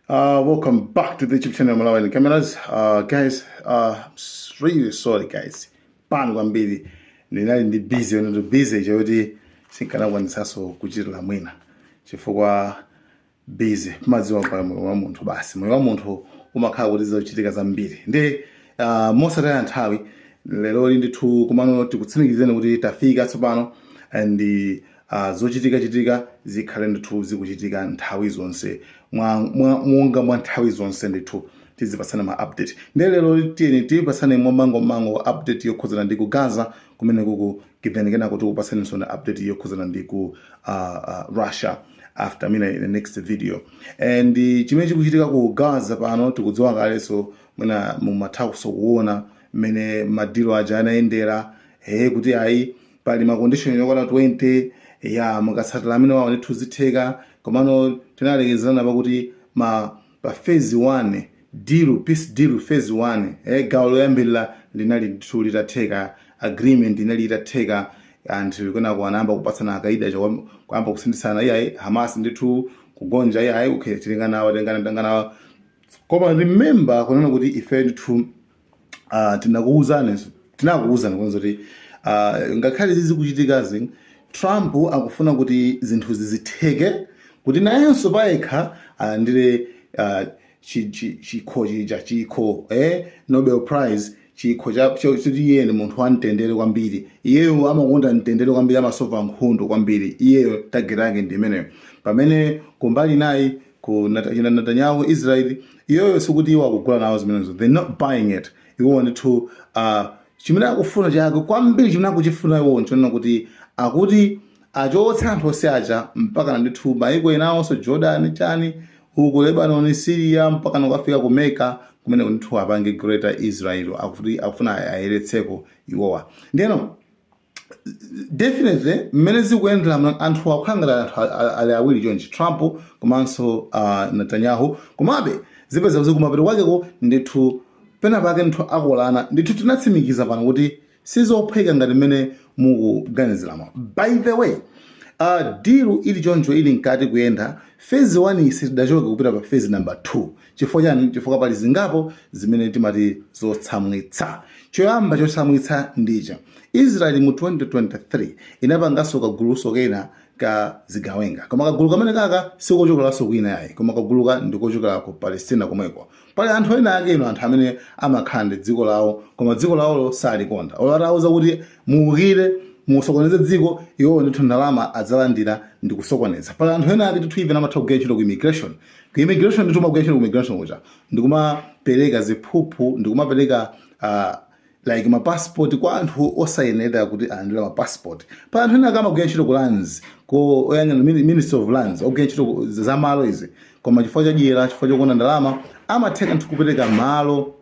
Uh, welcome back to the YouTube channel Malawian Cameras. Uh, guys, uh, I'm really sorry guys. Pano kwambiri ndinali ndi busy ndi busy chakuti sinkanakwanitsanso kuchitira mwina chifukwa busy mmadziwa pa moyo wa munthu basi moyo wa munthu umakhala kuti zochitika zambiri nde uh, mosataya nthawi lero ndithu komano tikutsimikizeni kuti tafika tsopano and a zochitika chitika zikhale ndithu zikuchitika nthawi zonse mwa, mwa, monga mwa nthawi zonse ndithu tizipatsana ma update nde lero tiyeni tipatsane mwamangomango update yokhudzana ndi ku gaza kumene kuku kipeni kenako tikupatsaninso na update yokhudzana ndi ku uh, uh, russia after mina in the next video and uh, chimene chikuchitika ku gaza pano tikudziwa kalenso mwina mumathakonso kuona mmene madilo aja anayendera he kuti ayi pali ma condition yokwana 20 ya mukatsatira amene wawo ndithu zitheka komano tinalekezerana pakuti ma pa phase 1 deal peace deal phase 1 eh, gawo loyambirira linali ndithu litatheka agreement inali itatheka anthu kenako anayamba kupatsana akaida aja kwam- kuyamba kusinthitsana iyayi hamas ndithu kugonja iyayi okay tilinganawa tilingana tilinganawa koma remember kunena kuti ife ndithu uh, tinakuwuzani tinakuwuzani kunena kuti uh, ngakhale zizikuchitikazi Trump akufuna kuti zinthu zizitheke kuti nayenso payekha alandire uh, chikho chija chikho eh, Nobel Prize chikho chakuti iye ndi munthu wamtendere kwambiri iyeyo amakonda mtendere kwambiri amasova nkhondo kwambiri iyeyo tageti yake ndi imeneyo pamene kumbali nayi ku Nat- achina Netanyahu ku Israel iwowo sikuti iwo akugula nawo zimenezo they not buying it iwo ndithu uh, chimene akufuna chake kwambiri chimene akuchifuna iwo nchonena kuti akuti achotse anthu onse aja mpaka ndithu maiko enawonso Jordan chani uku Lebanon Syria mpaka kukafika ku Mecca kumene ndithu apange greater Israel akuti akufuna ayeretseko iwowa ndiyeno definitely mmene zikuyendera ma- anthu akukhala ngati anthu a- a- ali awiri chonchi trump komanso uh, netanyahu komabe azipeza kuti kumapeto kwakeko ndithu pena pake ndithu akolana ndithu tinatsimikiza pano kuti sizophweka ngati mmene mukuganiziramo by the way uh, dilu ili choncho ili mkati kuyenda fezi 1 sitidachoke kupita pa fezi number 2 chifukwa chani chifukwa pali zingapo zimene timati zotsamwitsa choyamba chotsamwitsa ndicha israeli mu 2023 inapanganso kaguluso kena ka zigawenga koma kagulu kamene kaka sikochokeranso kwina yayi koma kaguluka ndikochokera ku palestina komweko pali anthu ena ake you know anthu amene amakhala ndi dziko lawo koma dziko lawolo salikonda olo atawuza kuti muukire musokoneze dziko iwowo ndithu ndalama adzalandira ndi kusokoneza pali anthu ena ake ndithu even amatha kugwira ntchito ku immigration ku immigration ndithu magwira ntchito ku immigration kuja ndikumapereka ziphuphu ndikumapereka uh, like mapassport kwa anthu osayenera kuti alandire mapassport pali anthu ena akamagwira ntchito ku lands ko oyang'ana mini- ministry of lands ogwira ntchito ku- za malo izi koma chifukwa cha dyera chifukwa chokonda ndalama amatheka ndithu kupereka malo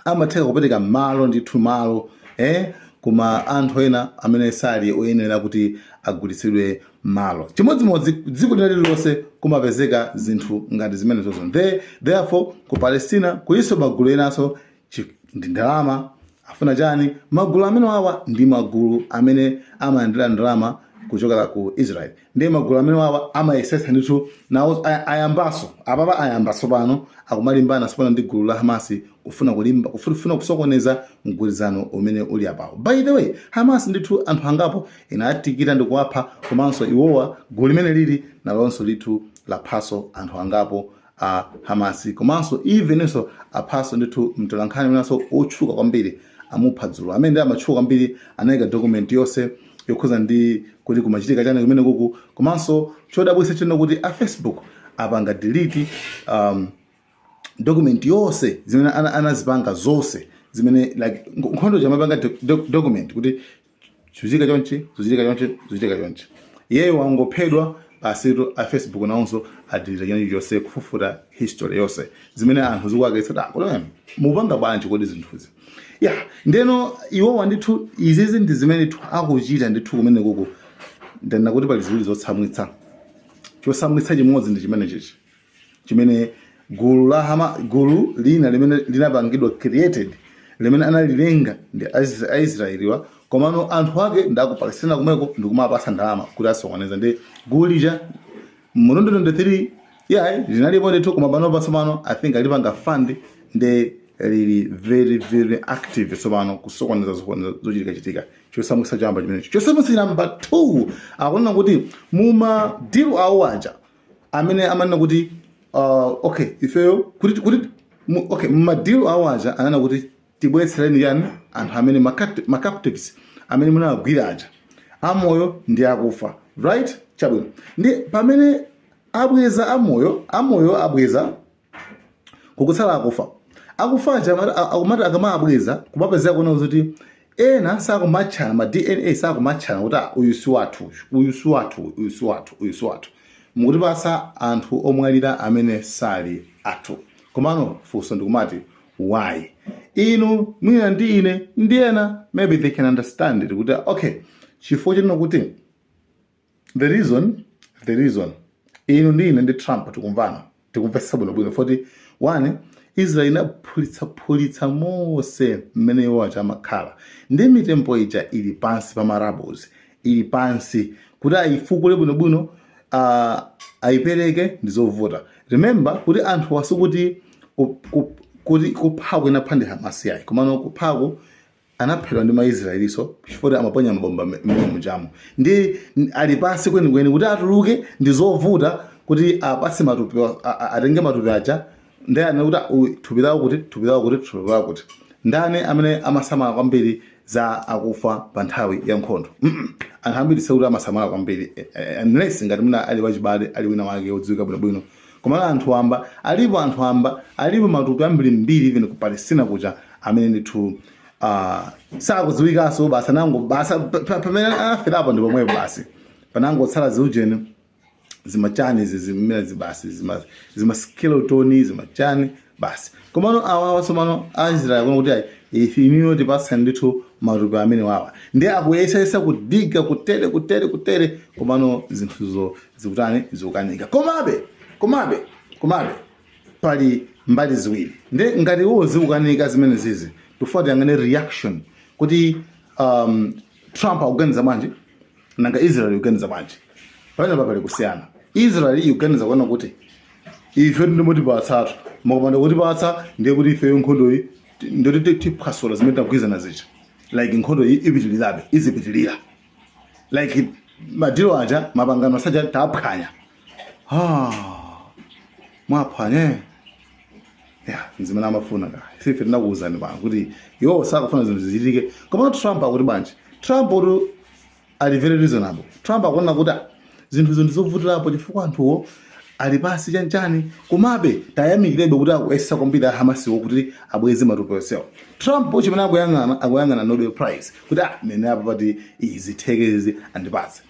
amatheka kupereka malo ndithu malo eh, kwa anthu ena amene sali oyenera kuti agulitsidwe malo chimodzimodzi dziko lina lililonse kumapezeka zinthu ngati zimenezozo There- therefore ku palestina kulinso magulu enanso chi- ndi ndalama afuna chani magulu amene wawa ndi magulu amene amalandira ndalama kuchokera ku israel ndiye magulu amene wawa amayesetsa ndithu nawo aya- ayambaso apapa ayamba tsopano akumalimbana tsopano ndi gulu la hamasi kufuna kulimba kufuna kufuna kusokoneza mgwirizano umene uli apawo by the way hamasi ndithu anthu angapo inaatikira ndi kuwapha komanso iwowa gulu limene lili nalonso ndithu laphaso anthu angapo a Hamasi komanso evenso aphaso ndithu mtolankhani winanso otchuka kwambiri amupha dzulo amene nde amatchuka kwambiri anayika document yonse yokhudza ndi kuti kumachitika chani kumene kuku komanso chodabwitsa chonena kuti a Facebook apanga delete um, document yonse zimene ana- anazipanga zonse zimene like nk- nkhondo ija amapanga document kuti Zuchitika chonchi, zuchitika chonchi, zuchitika chonchi. Iyeyo wangophedwa basitu a Facebook nawonso adelete china chilichonse kufufuta history yonse. Zimene anthu zikuwakwiyitsa kuti em, mupanga bwanji kodi zinthuzi. Yeah, ndeno iwowa ndithu izizi ndi zimenetu akuchita ndithu kumene kuku. Ndanena kuti pali ziwiri zotsamwitsa. Chotsamwitsa chimodzi ndi chimene chichi. chimene gulu la Hama, gulu lina limene linapangidwa created limene analilenga ndi Aisra- aisraeliwa komano anthu ake ndi aku palestina kumeko ndikumawapatsa ndalama kuti asokoneze nde gulu lija mu 2023 yeah linalipo ndithu koma pano patsopano i think alipanga fund nde lili very very active tsopano kusokoneza sokoneza zochitika chitika chotsamwitsa choyamba chimenecho chotsamwitsa cha number 2 akunena kuti muma deal awo aja amene amanena kuti uh, okay ifeyo kuti kuti mu- okay mmadilo awo aja ananena kuti tibweretsereni chani anthu amene ma capt- ma captives amene munawagwira aja amoyo ndi akufa right chabwino nde pamene abweza amoyo amoyo abweza kukutsala akufa akufa aja amati- a- akumati akamabweza kumapezeka kuona kuti ena sakumatchana ma dna sakumatchana kuti "Ah, uyu si wathu uyu, uyu si wathu uyu, uyu si wathu uyu si wathu mukutipatsa anthu omwalira amene sali athu komano funso ndikumati why inu mwina ndi ine ndi ena maybe they can understand it kuti okay chifukwa chonena kuti the reason the reason inu ndi ine ndi trump tikumvana tikumvetsa bwinobwino foti one israel inaphulitsaphulitsa mose mmene iwo aja amakhala ndi mitembo ija ili pansi pa ma rubbles ili pansi kuti ayifukule bwinobwino uh, ayipereke ndi zovuta remember kuti anthuwa sikuti ku- ku- kuti kuphaku anaphedwa ndi hamasi yayi komano kuphaku anaphedwa ndi ma Israelinso chifukwa amaponya mabomba mmene mujamo nde ali pansi kwenikweni kuti atuluke ndi zovuta kuti apase matupi atenge matupi aja ndani amene kuti thupi lawo kuti thupi lawo kuti thupi lawo kuti ndani amene amasamala kwambiri za akufa pa nthawi ya nkhondo mm -mm. anthu ambiri sikuti amasamala kwambiri eh, eh, unless ngati mwina ali wachibale ali wina wake odziwika bwinobwino Komano anthu wamba, alipo anthu wamba, alipo matupi ambiri mbiri even ku Palestina kuja amene ndithu uh, sakudziwikanso basi anango basi pamene anaferapo ndi pomwepo basi panangotsala ziujeni zimachani zimene zibasi zima, zima skeleton zimachani basi komano awawa tsopano a israel kuno kuti ayi ife inuyo tipatsani ndithu matupi amene wawa ndi akuyesayesa ku digga kutere kutere kutere komano zinthuzo zikutani zikukanika komabe komabe komabe pali mbali ziwiri nde ngati iwo zikukanika zimene zizi tufuna tiyang'ane reaction kuti um, trump akuganiza bwanji nanga israeli ikuganiza bwanji pamenepa pali kusiyana israeli ikuganiza kunena kuti ife nde mutipatsatu mukapanda kutipatsa ndiye kuti ifeyo nkhondoyi ndi yoti tiphwasula zimene tagwirizana zija like nkhondo iyi ipitirirabe izipitirira like madili aja mapangano aja taphwanya mwaphwanya nzimene amafuna ka ife ife tinakuwuzani pano kuti iwo sakufuna zinthu zichitike komano trump akuti bwanji trump akuti ali very reasonable trump akuona kuti "Ah, zinthu zinthu nzovutirapo chifukwa anthuwo ali pansi chanchani komabe tiyamikirebe kuti akuyesetsa kwambiri ahamasiwo kuti abweze matupi onsewo trump chimene akuyang'ana akuyang'ana nobel prize kuti ah mene apa atati izi zitheke izi andipatse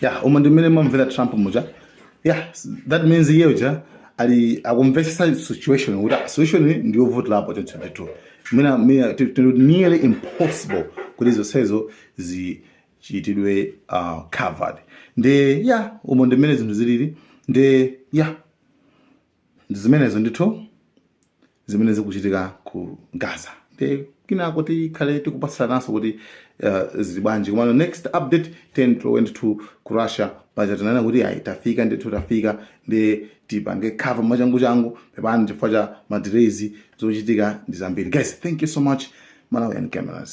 yeah umo ndi mmene ndamvera trump muja yeah s- that means iye uja ali akumvetsetsa situation kuti ah, situation iyi ndi yovutirapo 2022 mwina mwina it it would nearly impossible kuti zonsezo zichitidwe uh, covered nde yeah umo ndi mmene zinthu zilili nde yeah Ndi zimenezo ndithu zimene zikuchitika ku Gaza. Ndiye kinako tikhale tikupatsananso kuti uh, zili bwanji komano next update tendi ndithu ku Russia paja tinanena kuti ayi tafika ndithu tafika ndi tipange cover mwachanguchangu pepani chifukwa cha madelays zochitika ndi zambiri guys thank you so much Malawian cameras